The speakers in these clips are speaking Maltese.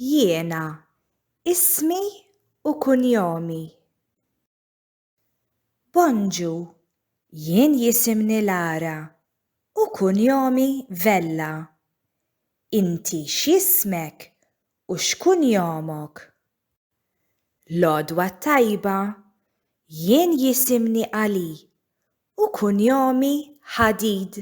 Jiena, ismi u kunjomi. Bonġu, jien jisimni Lara u kunjomi Vella. Inti x'jismek u x'kunjomok? L-għodwa t-tajba, jien jisimni Ali u kunjomi Hadid.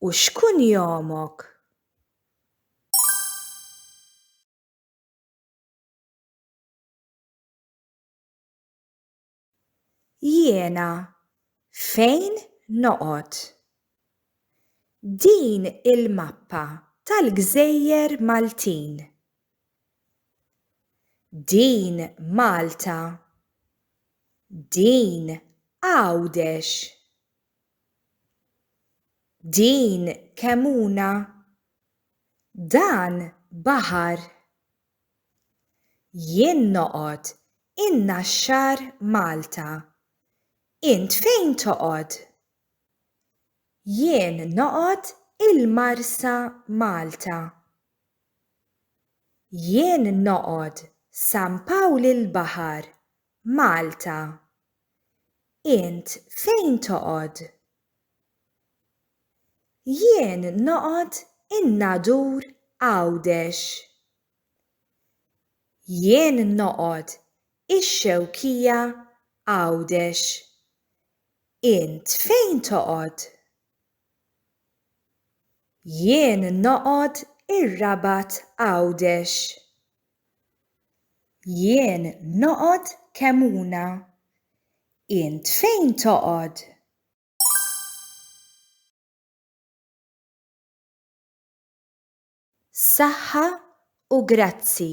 U x'kunjomok? Jiena fejn noqgħod? Din il-mappa tal-gżejjer Maltin. Din Malta. Din Għawdex. Din kemuna. Dan baħar. Jien noqgħod in-Naxxar Malta. Int fejn toqgħod? Jien noqgħod il-Marsa Malta. Jien noqgħod San Pawl il-Baħar Malta. Int fejn toqgħod? Jien noqgħod in-Nadur Għawdex. Jien noqgħod ix-Xewkija Għawdex. Int fejn toqgħod? Jien noqgħod ir-Rabat Għawdex. Jien noqgħod Kemmuna. Int fejn toqgħod? Saħħa u grazzi.